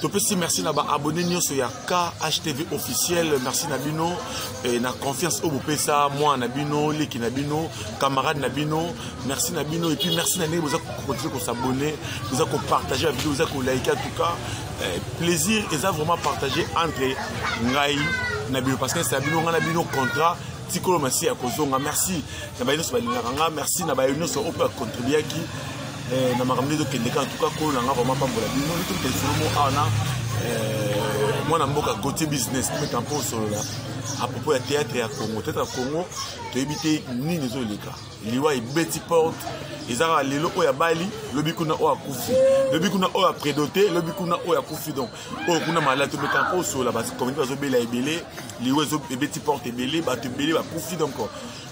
topesi merci na baabonne nyonso ya khtv officiel merci na bino e, na confiance oyo bopesa mwana na bino leki na bino camarade na bino merci na bino epuis merci na ndenge boza kokontinue kosabonne boza kopartage bavideo boza kolaike en tout cas e, plaisir eza vraiment partage entre ngai na bino parce que esa bino ngai na bino contrat tikolo masi ya kozonga merci na baye nyonso balingaka nga merci na baye nyonso oyo mpe akontribuaki eh, na makambo nde tokende kaka tuka kolo na nga vraimen pambola bino nde tokende solomo awa na eh, mwana mboka gautier business meka mpo osolola apropos ya théâtre ya congo théâtre ya congo toyebi te nini ezoleka liwa ebeti porte eza kaka lelo oyo abali lobi kuna oyo akufi lobi kuna oyo apredote lobi kuna oyo akufi donc oyo kuna maladi tobeta mpo osola bakomite bazobela ebele liwa ebeti porte ebele bato ebele bakufi donc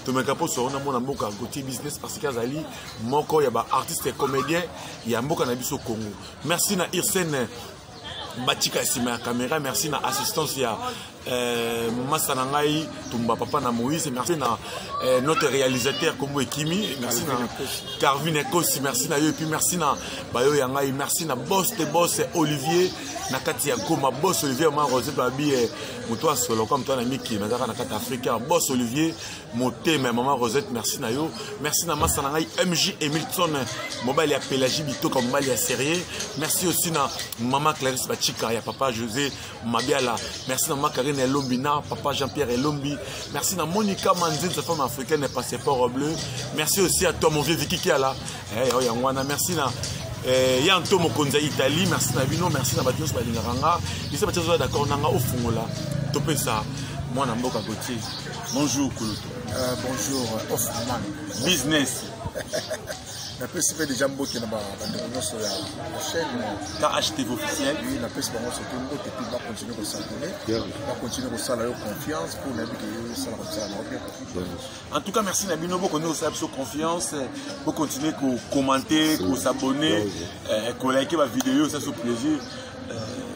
tomeka mpo osola na mwana mboka gautier business parce que azali moko ya baartiste comédien ya mboka na biso congo merci na irsene batika nsima ya caméra merci na assistance ya Euh, masta na ngai tumba papa na moïse merci na euh, notre réalisateur kombo ekimi merci na carvin ekosi merci na yo epuis merci na bayo ya ngai merci na bos te bos olivier na kati ya goma bos olivier ma rose babi eh, moto asolo kwa moto anamiki nazalaka na kati ya afrika bos olivier motema mama rosette merci na yo merci na masta na ngai mj emilton mobali ya pelagie bitoka mobali ya serie merci aussi na mama clarisse bachika ya papa josé mabiala merci na macarine elombi na papa jean pierre elombi merci na monica manzinza femme africaine passeport bleu merci aussi à toi mon vieux viki kiala eh, oh, yango wana merci na eh, ya nto mokonzi ya italie merci na bino merci na bato nyonso balingaka nga bisa bato azoya d'accord na nga ofungola topesa mwana mboka gotier bonjour kulutu uh, bonjour ofuman business napesi mpe deja mbote na bandeko nyonso ya chaîne khtv officiel oui napesi bango soki mbote mpe bacontinue kosabone bacontinue kosala yo confiance mpo nayebi ke yo osala kosala na obien en tout cas merci na bino bokondi kosala biso confiance bocontinue kokommente kosabone kolike bavideo oyo saso plaisir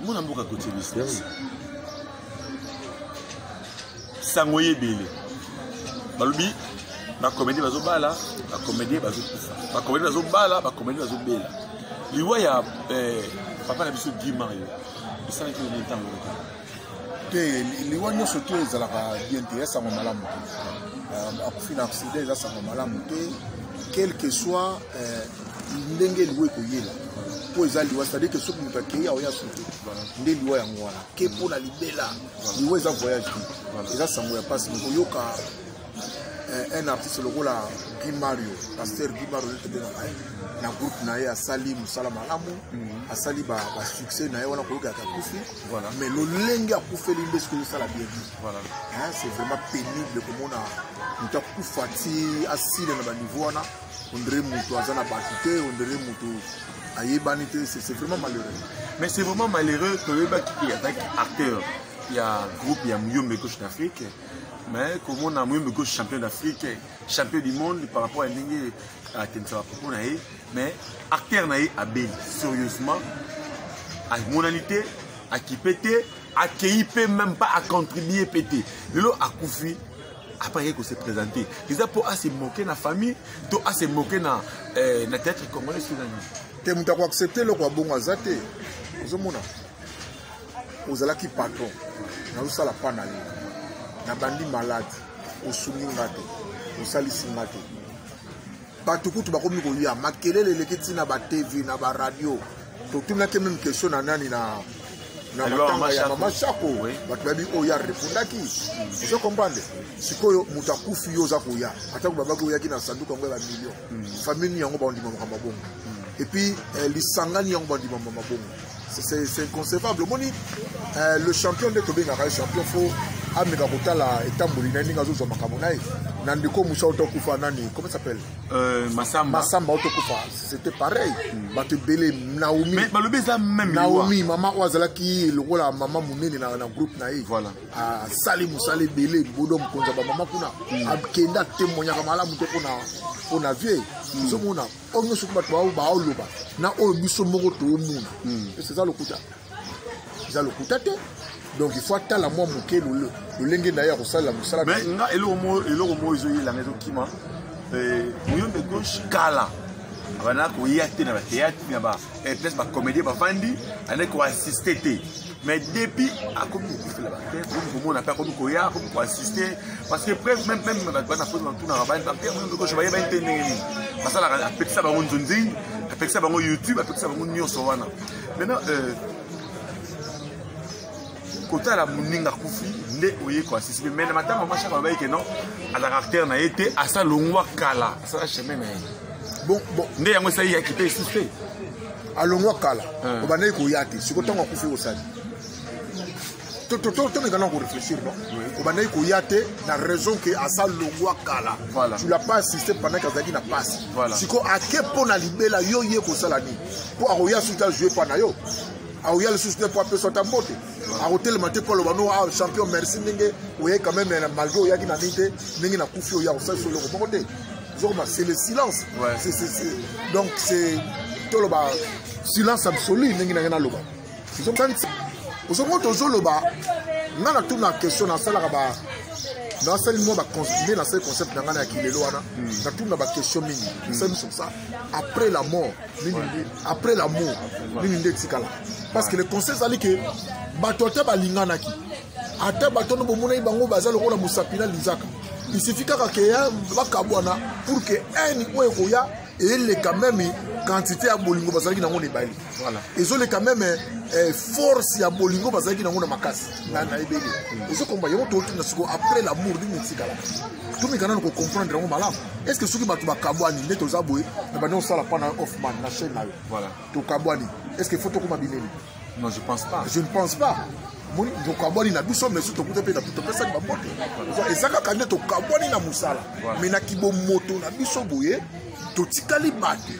mona mboka kotie business sango ye ebele balobi bacomédie bazobala bacomédie bazokufa bacomédie bazobala bacomédie bazobela liwa ya eh, papa na biso guy mario esalaki nini ntango te te liwa nyonso te ezalaka bien te ya sango malamu te euh, akufi na accident eza sango malamu te quelque soit euh, ndenge liwa ekoyela mpo eza liwa c'est-à-dire ke soki moto akei aoya soki nde liwa yango wana ke mpo na libela liwa eza voyage te eza sango ya mpasi mokoyoka eh, un artiste lokola guy mario pasteur guy mario etebengaka ye na groupe na ye asali mosala malamu mhm. asali basuccès na ye wana koyokaka akufi mais lolenge akufeli nde soki ozosala bien c'est vraiment pénible komona moto akufa ti asile na baniveau wana ondire moto aza na bato te ondire moto ayebani te c'est vraiment malheureux mais c'est vraiment malheureux toyebaki ke azalaki acteur ya groupe ya muyombe gauche d'afrique mais komona muyombe gauche champion d'afrique champion du monde par rapport ya ndenge atemisaka propos na ye mais acteur na ye abeli sérieusement amonani te akipe te akei mpe même pas acontribue mpe te lelo akufi après aye kose présente eza mpo ase moke na famille to ase moke na, eh, na théâtre congolais soki na nini te moto akoaccepte eloko ya bongo aza te ozomona ozalaki patron nazosala pa na yo nabandi malade osungi nga te osalisi nga te bato kutu bakomi koya makelele eleki ntina batv na baradio totunaki meme question na nani na na matanga ya mama shako bato bayebi oyo ya repondaki ozo comprendre sikoyo moto akufi yo oza koya atako babaki oyaki na sanduku yango ya bamillion hmm. famille nini yango baondima makambo bongo hmm. epuis eh, lisangani yango bandima makambo bongo c'est inconcevable omoni eh, le champion nde tobengaka ye champion fo ameka kotala etamboli na ye ndenge azozwa makambo na ye na ndeko mosa oto akufa nani comment s'appelle Euh, masamba masamba oyo tokufa c'était pareil hmm. bato ebele naomi balobi eza meme naomi mama oyo azalaki lokola mama monene na, na groupe na ye voilà. asali ah, mosala ebele bodo mokonzi ya bamama kuna hmm. akenda atemoignaka malamu te mpona mpona vie ozomona hmm. oyo nyonso bato baoloba na oyo biso moko toomona eza lokuta eza lokuta te donc il faut atala mwa moke lolenge na ye ya kosalela mosala mais nga eloko moko ezoyelanga ezokima eh, moyombe gauche kala abanda koya te na batheatre na baplace bacomédien bavandi ande koassiste te mais depuis akomi kokufela batheatre omi komona mpe akomi koya akomi koassiste parce que preuve même même bato bana mpoza batunaka bani bape moyombe gauche bayebani te ndenge nini basalaka apekisa bango nzonzing apekisa bango youtube apekisa bango nyonso wana maintenant euh, kotala moninga kufi nde oye koasisipe mai na matanga mashaka babaki ke non azalaka acteur na ye te asa longwa kala asala chemin na ye bon, bon. nde yango esali yaki mpe esusu te alongwa kala obandaki koya te sikoyo ntango akufi osali tomeka na koreflechir no obandaki koya te na raison ke asa longwa kala tu la pas assiste pendant ke azalaki na pasi sikoyo ake mpo na libela yo ye kosala nini mpo akoya soki ta joue mpa na yo akoya lisusu te mpo apesa ata mbote akotelema te mpo aloba no ah, champion merci ndenge oyei quand même eh, malgré oyaki na nini te ndenge nakufi oya kosalisa eloko moko te ozokoma c'est le silence donc c'est toloba silence absolu ndenge na ngai naloba ozongo tozoloba nga na tuna question nasalaka ba nasali mwa nde nasali concept na ngai na ya kilelo wana hmm. natuna baquestion mingi hmm. nasali biso sa après la mort après la mort nini nde etikala parce que le conseil ezali ke bato ata balinganaki ata bato wana bomonaki bango baza lokola mosapi na linzaka isifi kaka ke bakabwana pour ke haine oyo ekoya eleka meme quantité ya bolingo bazalaki nango na ebale ezoleka meme eh, force ya bolingo bazalaki nango na makasi na ebele hmm. ezokomba yango totuna siko après lamour ndenge etikala tomikana na kocomprendre yango malamu est ce que soki bato bakabwani nde toza boye na bande osala mpo na hoffman na chaine na yo tokabwani est ce que faut tokoma binemi Non, je pense pas. Je ne pense pas. moni tokabwani na biso mais soki tokuta mpe topesaki bambote eza kaka nde tokabwani na mosala mais na kibomoto na biso boye totikali bato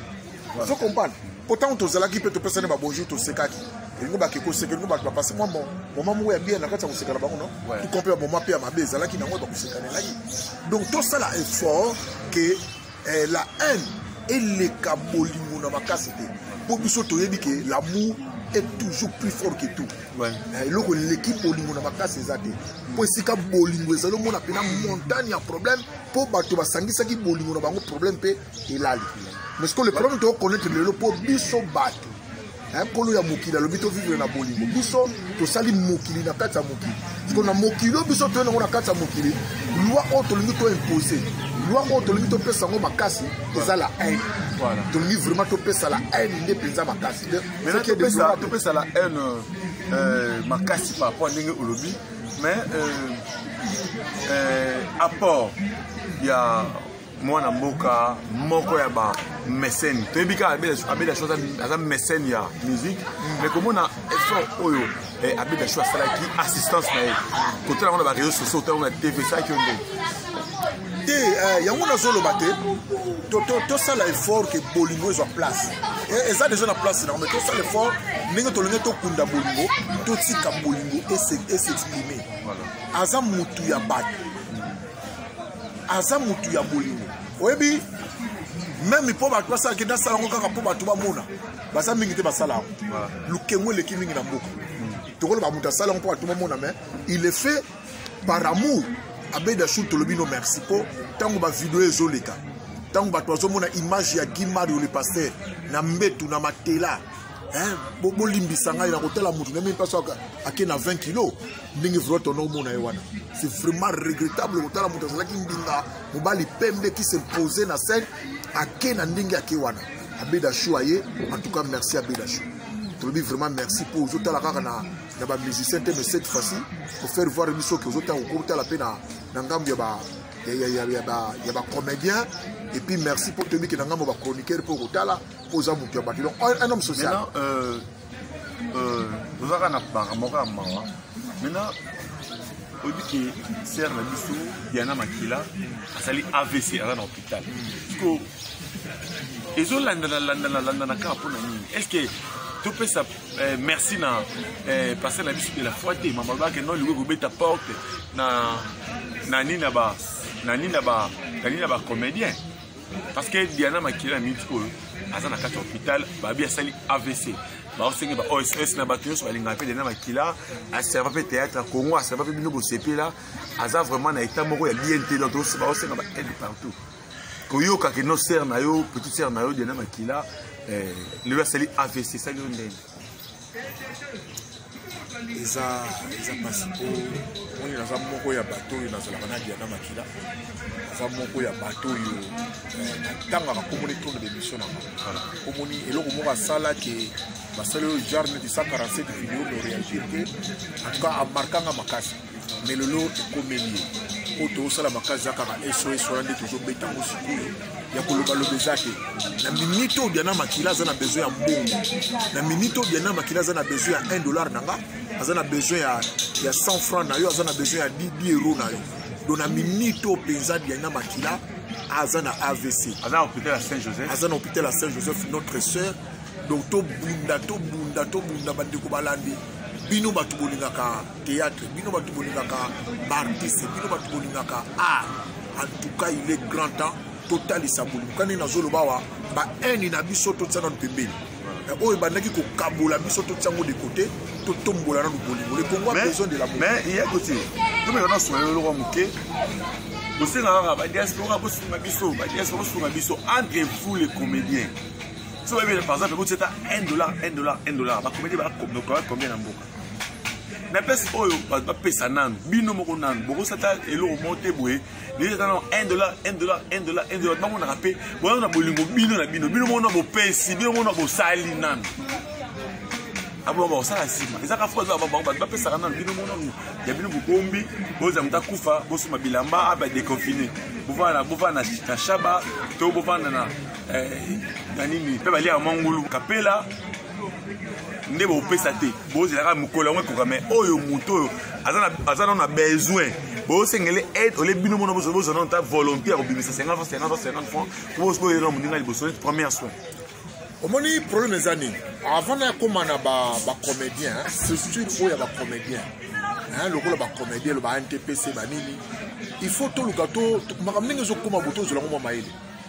ozo comprendre mpo ntango tozalaki mpe topesani babonjour tosekaki elingo bakeki koseka elingo bato bapasi mwa moma moko ya bien na kati ya kosekana bango no tukompe ya moma mpe ya mabe ezalaki na yango bakosekanelaki donc tosala effort ke eh, la haine eleka bolingo na makasi te mpo biso toyebi ke l'amour est toujours plus fort que tout eh, eloko eleki bolingo na makasi eza te mpo esika bolingo ezali omona mpena montagne ya problème mpo bato basangisaki bolingo na bango problème mpe elali mais ce que le problème tokokonetre lelo mpo biso bato nkolo ya mokili alobi tovivre na bolingo biso tosali mokili na kati ya mokili siko na mokili oyo biso toye nango na kati ya mokili lwa oyo tolingi toimpose lwa oyo tolingi topesa yango makasi eza la haine tolingi vraiment topesa la haine nde mpenza makasi topesa la haine euh, makasi par rapport ndenge olobi mais euh, euh, apport ya mwana mboka moko ya ba mécène toyebi kaka abeda cho aza mécène ya musique mais komona effort oyo eh, abeda cho asalaki assistance na ye kotala yango na bareseau sociaux otango na tv esalaki yo ndenge te eh, yango nazoloba te tosala effort ke bolingo ezwa place eh, eza deja na place na yango mais tosala effort ndenge tolingi tokunda bolingo totika bolingo esexprime aza mutu ya bato aza mutu ya bolingo oyebi meme mpo bato basalaki nde asala yango kaka mpo bato bamona baza mingi te basala yango lokengo eleki mingi na mboka tokoloba moto asala yango mpo bato bamona mais il est fait par amour abeda shul tolobi no merci mpo ntango bavideo ezoleka ntango bato bazomona image ya guy mario le pasteur na mbetu na matela hein bolimbisa ngai na kotala motu na mimi mpasi ake na 20 kilo ndenge vrot ono omona ye wana c'est vraiment regrettable kotala motu azalaki mbinga mobali pembe qui s'impose na scène ake na ndenge ake wana abedashu aye en tout cas merci abedashu tolobi vraiment merci mpo ozotala kaka na, na bamusicien te mais cette fois-ci pour faire voir biso ke ozotala kokotala mpe na, na ngambo ya ba ya bacomédien epuis merci mpo toyebi ke na ngambo bachroniqueur mpo okotala oza moto ya bato donc un homme social euh, euh, ozalaka na banga moko ya mawa maintenant oyebi ke sere na biso diana makila azali avc aza na hôpital siko ezolandana landana landana kaka mpo na nini est ce que topesa eh, merci na eh, paster na biso de la foi te mama alobaka no lingo ekobeta porte na na nini na ba na nini na ba na nini na ba comédien parce que diana makila na minute oyo aza na kati ya hôpital babi asali avc baosengi ba oss oh, na bato nyonso balingaka mpe diana makila aserva mpe théâtre ya congo aserva mpe bino bosepela aza vraiment na état moko ya bien te donc baosenga ba aide partout koyoka ke no ser na yo petite ser na yo diana makila eh, lelo asali avc esali yo ndenge eza eza mpasi mpo moni naza moko ya bato oyo nazalaka na diana makila naza moko ya bato oyo eh, natangaka komoni tourne d'émission na bango komoni eloko moko asala ke basali oyo jarne de 147 video no réagir te en tout cas amarkanga makasi me lelo ekomeli ye mpo tozosala makasi za kaka sos wana nde tozobeta yango sikoyo ya kolobaloba eza te na minite oyo diana makila aza na besoin ya mbongo na minite oyo diana makila aza na besoin ya 1 dollar na nga aza na besoin ya, ya 100 franc na yo aza na besoin ya 10 euro na yo do na minite oyo mpenza diana makila aza na avc aza na hôpital ya saint joseph aza na hôpital ya saint joseph notre sœur donc tobunda tobunda tobunda bandeko balandi bino bato bolingaka théâtre bino bato bolingaka baartiste bino bato bolingaka art en tout cas il est grand temps totalisa bolingo kani nazoloba awa bahaine na biso totia nano pembeni eh, oyo ebandaki kokabola biso totia yango de côté totombola nano bolingo le congo a besoin de la mais ye kote tomeka na sola eloko moke bosenga kaka badiaspora bosunga biso badiaspora bosunga biso entre vous les comédiens so bayebi par exemple ekotia ata 1 dollar 1 dollar 1 dollar bacomédie bakombien na mboka na pese oyo bato bapesa nanu bino moko nanu bokosata eloko moko te boye ezata nano 1 dollar 1 dollar 1 dollar 1 dollar bamonaka mpe boyaka na bolingo bino na bino bino moko na bopesi bino moko na bosali nanu aboma bakosala nsima ezaka fo bato bapesaka nanu bino moko nanu ya bino bokombi bozala moto akufa bosoma bilamba abe adeconfine bovanda bovanda na shaba to bovanda na eh, na nini mpe baliaka mwa ngulu kapela nde bopesa te bozelaka mokolo yango ekoka mai oyo moto oyo aza nano na besoin bosengele aide ole bino mona bozwa nano ta volonté ya kobimisa 50 franc 50 franc 50 franc po boyena moninga liboso neti première soin omoni problème eza nini avant na yakoma na bacomédien surtout oyo ya bacomédien lokola bacomédien lo ba ntpc banini il faut toluka makambo ndenge ezokoma boto ozela ngo mwa mayele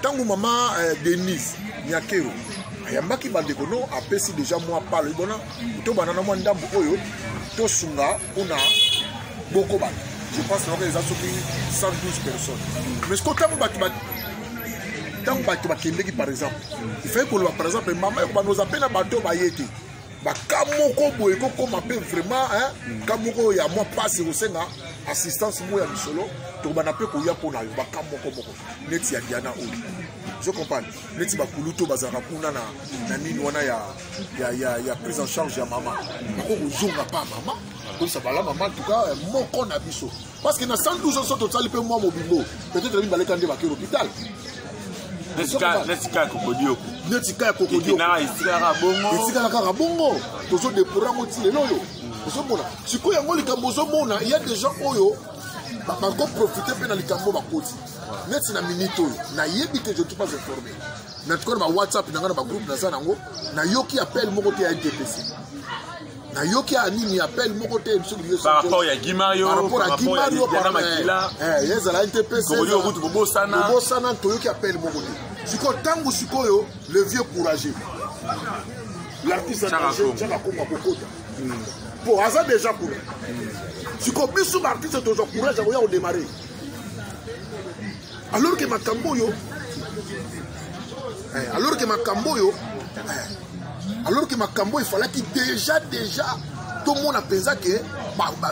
ntango mama eh, denise nyakero ayambaki bandeko no apesi deja mwa palo ebona tobanda na mwa ndambo oyo tosunga mpona boko bato je pense naka eza soki 112 personnes mais siko ntango bato ntango bato bakendeki par exemple ifai koloba par exemple mama ekobanda oza mpe na bato baye te baka moko boye kokoma mpe vraiment hmm. ka moko ya mwa mpasi ekosenga assistance moko ya misolo tokobanda mpe koya mpo na yo baka moko moko neti ya diana oyo je comprendre neti bakulutu bazalaka kuna na, na nini wana ya, ya, ya, ya prise en charge ya mama bako kozonga pa mama koyisa bala mama tuka moko na biso parce que na 112 ans so tosali mpe mwa mobimbo peut-être nabi baleka nde bakei l'hôpital netika ya kokodioko netika ya kokodioketikalaka kaka bongo tozodepora yango ti lelo oyo ozomona sikoyo yango likambo ozomona ya des gens oyo bakoprofite mpe na likambo bakoti neti na minute oyo nayebi te je suis pas informé na tuka na bawhatsapp na ngai na bagroupe naza na yango nayoki appel moko te ya ntpc nayoki ya nini appel moko te par rapport ya gimario par rapport ya gimario par rapport ya makila eh, eh ezala te pe c'est ça kutu bobosana bobosana toyoki appel moko te siko tangu sikoyo le vieux courageux l'artiste danger chaka kongo kokota po hmm. aza déjà kuna siko biso ba artiste tozwa courage ya koya kodemare alors que makambo oyo eh, alors que makambo oyo eh, alors que makambo efalaki déjà déjà tomona mpenza ke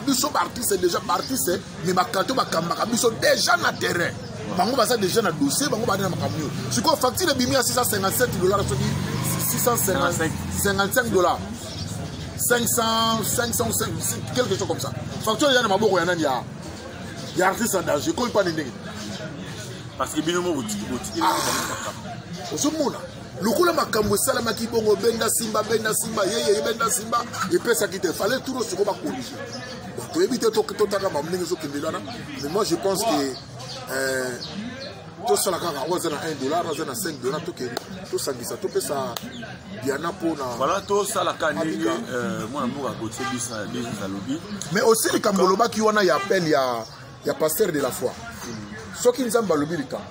biso baartiste déjà baartiste me bakanto bakambaka biso déjà na terrain bango baza déjà na dossier bango bandi na makambo oyo sikoyo facture ebimi ya 657 dollar soki 655 dollar 500 500 quelque chose comme ça facture eza na maboko ya nani ya ya artiste en danger ekomi pane ndenge parce que bino moko botiki botiki ah. ozomona lokola makambo esalamaki bongo benda simba benda simba yeyeye benda simba epesaki te fale tour osoko bakorige toyebi te totaka mamu ndenge ezokendeli wana mais moi je pense que euh, tosala kaka oyo aza na 1 dollar aza na 5 dollar tokende tosangisa topesa diana mpona voilà tosalaka ndenge euh, mwana mboka gautier bis alobi mais osi likambo olobaki wana ya appel ya, ya pasteur de la foi soki nzambe alobi likambo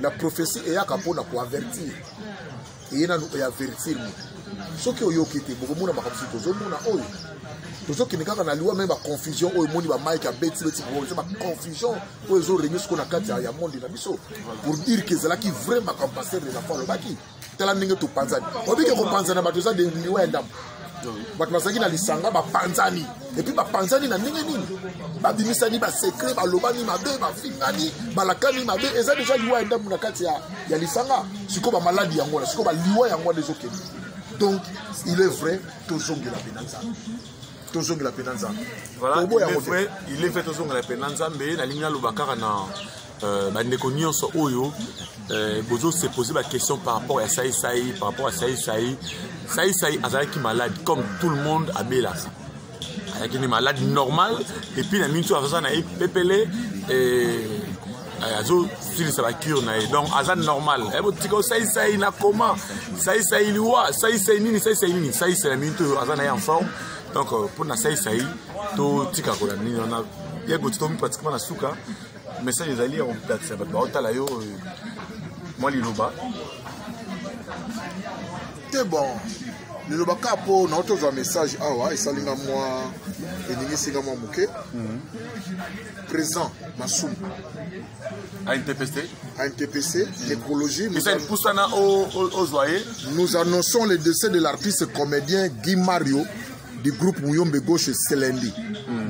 la prophétie eyaka mpona koavertir eye nanu ya verifie moto soki oyoki te bokomona makambo soki tozomona oyo tozokende kaka na liwa me baconfusion oyo emoni bamike abeti beti eza baconfusion oyo ezoregne siko na kati ya monde na biso pour dire ke ezalaki vrai makambo paster les enfants alobaki tala ndenge topanzani obike kopanzana bato eza liwa ya ndambo bato bazalaki na lisanga bapanzani epuis bapanzani na ndenge nini babimisani basekre balobani mabe bafingani balakani mabe eza deja liwa ya ndambo na kati ya, ya lisanga sikoyo bamaladi yango wana sikoyo baliwa yango wana ezokende donc il est vrai tozongela mpe na nzambe tozongela mpe na nzambe voilà, il est vrai tozongela mpe na nzambe nalingi naloba kaka na Euh, bandeko nyonso oyo euh, bozo se poser ba question par rapport ya sai sai par rapport ya sai sai sai sai azalaki malade comme tout le monde abelaka azalaki nde malade normal epuis na minso aza na ye pepele euh, azosilisa bacure na ye donc aza normal eh, botika osaisai na koma saisai liwa saisai nini saisai nini saisai na minito oyo aza na ye en forme donc mpona saisai totika kolanda nini wana ye gotitomi pratiquement na suka message ezali ya koplatisa bato baotala yo euh, mwa liloba te bon liloba ka mpo nao tozwa message awa esali nga mwa eningisi nga mwa moke mhm. présent masumu ANTPC ANTPC, l'écologie. Nous annonçons le décès de l'artiste comédien Guy Mario du groupe Muyombe Gauche Selendi, mm.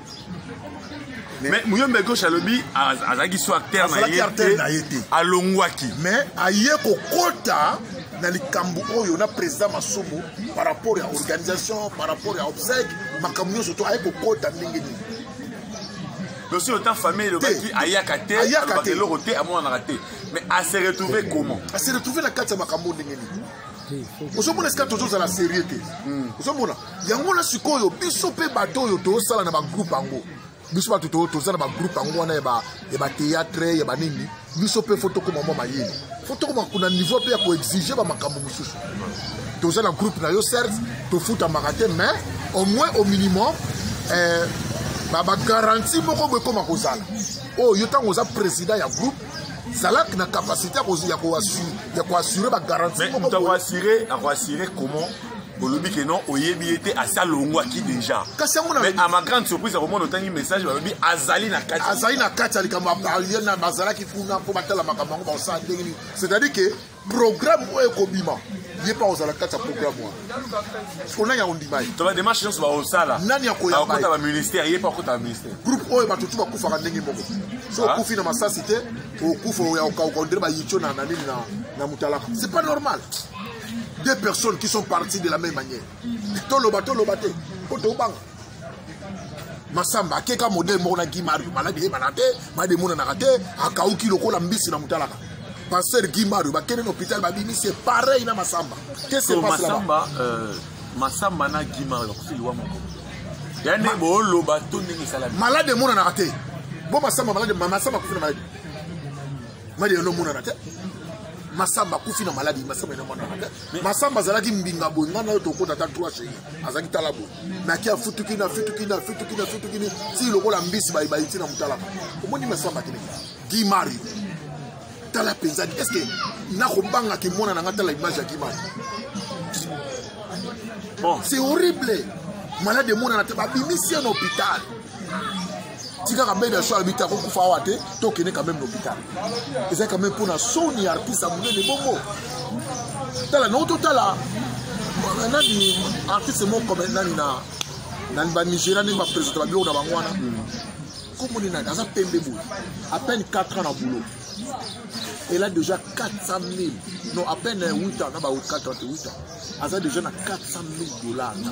mais muyombe gauche alobi azalaki so acteur na ye te alongwaki mais aye kokota na likambo oyo na président masumu par rapport ya organisation par rapport ya obsèque makambo nyonso to aye kokota ndenge nini dosi ota famille elobaki ayaka te alobaka eloko te amonanaka te mais ase retrouve comment ase retrouve na kati ya makambo ndenge nini ozomona esika tozozala serie te hmm. ozomona yango wana sikoyo biso mpe bato oyo tosala na bagroupe yango biso bato to toza na bagroupe yango wana ya bateatre ya banini biso mpe fo tokoma mwa mayele fo tokoma kuna niveau mpe ya koexige bamakambo mosusu toza na groupe na yo certes tofutamaka te mais au moins au minimum eh, bagaranti moko bo ekoma kozala oyo oh, yo ntango oza président ya groupe zalaki na capacité ya koassure bagaranti moko akoassure comment olobi ke non oyebi ye te asi alongwaki déjà mais à ma grande surprise akomona otangi message balobi azali na kati azali na kati ya likambo bazalaki kuna mpo batala makambo yango bakosala ndenge nini c'est-à-dire ke programme oyo ekobima ye mpe akozala kati ya programme wana siko nani akondima ye to bademarche nyonso bakosala nani akoyakota baministère ye mpe akota baministère groupe oyo bato tu bakufaka ndenge moko so ah. okufi na masasi te okufa oya okauka ondire bayitio na nini na mutalaka c'est pas normal deux personnes qui sont parties de la même manière toloba toloba te mpo tobanga masamba akeka modele moko na gi mario maladi eyebana te maladi emonanaka te akauki lokola mbisi na motalaka pasteur gi mario bakende na hôpital babimi se pareil na masamba ke se passe là-bas euh, masamba na gi mario bakosi liwa moko ya nde booloba to ndenge esalami maladi emonanaka te bo masamba maladi masamba akufi na maladi malia no mona te masamba akufi na maladi masamba ena mwana te masamba azalaki mbinga boye ngai nayo tokota ata trois chei azalaki tala boye naki afutukini afutukini afutukini afutukini ti lokola mbisi bayibayi ti na motalaka omoni masamba kini gi mario tala mpenza est ce que nakobanga kimona na ngai tala image ya gi mario bon c'est horrible malade emonana te babimisi ye na hôpital tikaka mbele ya so alobi te akokufa awa te tokende quand même na hôpital eza quand même mpona soni ya artiste ya monene bongo tala nao totala nani artiste moko comme nani na na banigéria ndenge bapresente babiloko na bango wana komoni nani aza pembe boye à peine 4 ans na boulot elle a déjà 400 000 non à peine 8 ans na ba 4 ans te 8 ans aza déjà na 400 000 dollars na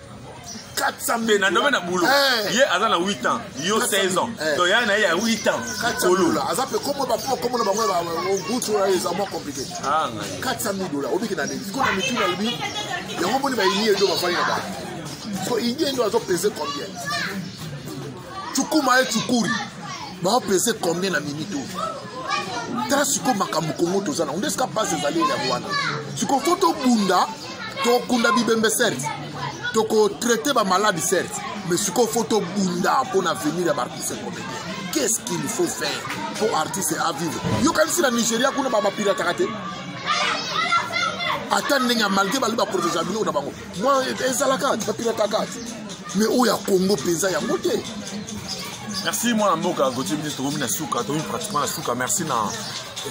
400 na domaine ya boulot eh. ye aza na 8 ans yo 16 ans eh. donc ya na ye ya 8 ans kolo aza pe komo ba po komo na bango ba gutu ya eza mo compliqué 400 000 dollars obiki na ndenge ko na mitu na bi yango boni ba yini edo ba fali na ba so yini endo azo peser combien cukuma ye cukuri baopese combien na minute oyo tala sikoyo makambo kongo toza nango nde sika mpasi ezali yango wana sikoyo fo tobunda tokunda bibembe certes tokotraite bamaladi certes mais sikoyo fo tobunda mpo na avenir ya baartiste comédien qu'est-ce qu'il faut faire mpo artiste avivre yokanisi na nigeria kuna babapirataka te ata ndenge ya malgre bali baprotege ya biloko na bango mwa ezalaka bapilakaka me oyo ya kongo mpenza yango te merci mwana mboka gautier biso tokomi na suka tokomi pratiquement na suka merci na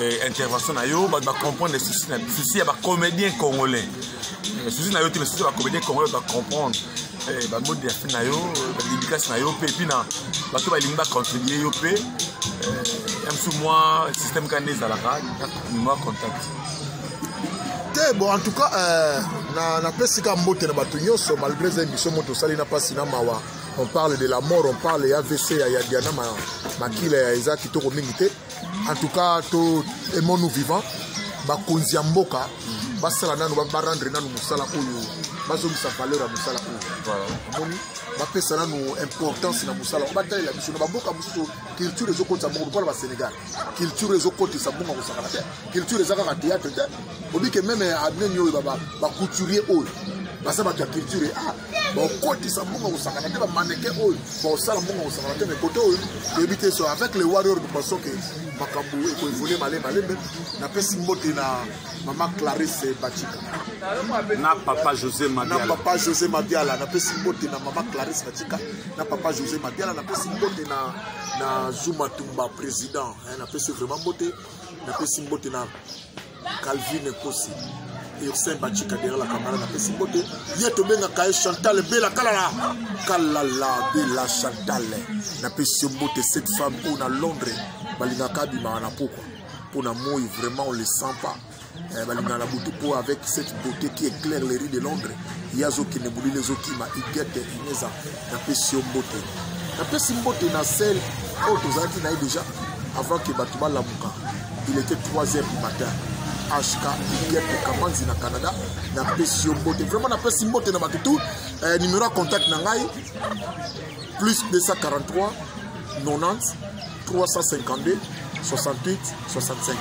eh, intervention na yo bato bacomprendre souci ya bacomédien congolais eh, souci na yo te mais souci ya bacomédien congolais bacomprendre eh, bamodi ya fin na yo badidikasi na yo mpe epuis na bato balingi bacontribue yo mpe ya mosusu mwa système kani ezalaka mwa contact te bon en tout cas euh, na napesi ka mbote na bato nyonso malgré eza émission moto osali na mpasi na mawa on parle de la mort on parle ya vc ya, ya diana ma, makila ya eza kitoko mingi te en tout cas to aimons nous vivant bakonzi ya mboka basala nanu barendre nanu mosala oyo bazongisa valeur ya mosala oyo omoni bapesa nanu importance na mosala oyo batalela biso na bamboka mosusu culture ezokotisa moko lokola basénégal culture ezokotisa bonga kosakana te culture eza kaka théâtre te obi ke meme abneni oyo bacouturier oyo baza bato ya culture ah, bakotisa mbongo kosakana te bamaneke oyo bakosala mbongo kosakana te mekote oyo toyebi te so avec le warrior de façon ke makambo ekoevole male malembe napesi mbote na mama clarisse bacika na papa josé madiala na papa josé madiala napesi mbote na mama clarisse bacika na papa josé madiala napesi mbote na na zuma tumba président eh, napesi vraiment mbote napesi mbote na calvin ekosi ursin bacika dera la kamara napesi mbote ye tobengaka ye chantal bela kalala kalala bela chantal napesi yo mbote cette femme oyo na londres balingaka abimaka na pokwa mpo na moi vraiment on le sent pas eh, balingaka na butu mpo avec cette beauté qui éclaire les rues de londres ye azokende molili ezokima igete ineza napesi yo mbote napesi mbote na sel oyo tozalaki na ye déjà avant ke bato balamuka il était 3 heures du matin hk igete kamanzi na canada napesi yo mbote vraiment napesi mbote na bato tout eh, numero ya contact na ngai plus 243 90 352 68 65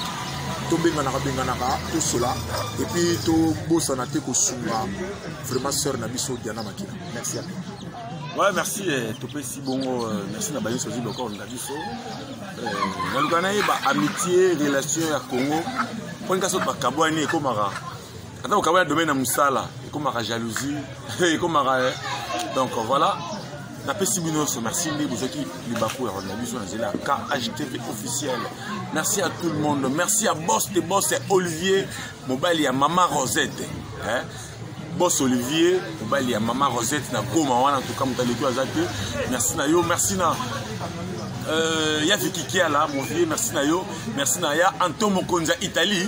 tobenganaka benganaka tosola epuis tobosana te kosunga vraiment sœur na biso diana makila merci Ouais, merci eh, topesi bongo euh, merci na bayeso ozwi lokolo na biso euh, naluka nayeba amitié relation ya congo mpo ndika soki bakabwani ekomaka ata kokabana domaine ya mosala ekomaka jalousie ekomaka eh. donc voilà napesi bino nyonso merci nde bozwaki libaku ya kolanda biso na nzela ya khtv officiel merci à tout le monde merci ya bos de bos ya olivier mobali ya mama rosette eh? bos olivier mobali ya mama rosette na goma wana ntoka moto aleki aza te merci na yo merci na euh, ya vikikiala mon vieux merci na yo merci na ya anto mokonzi ya italie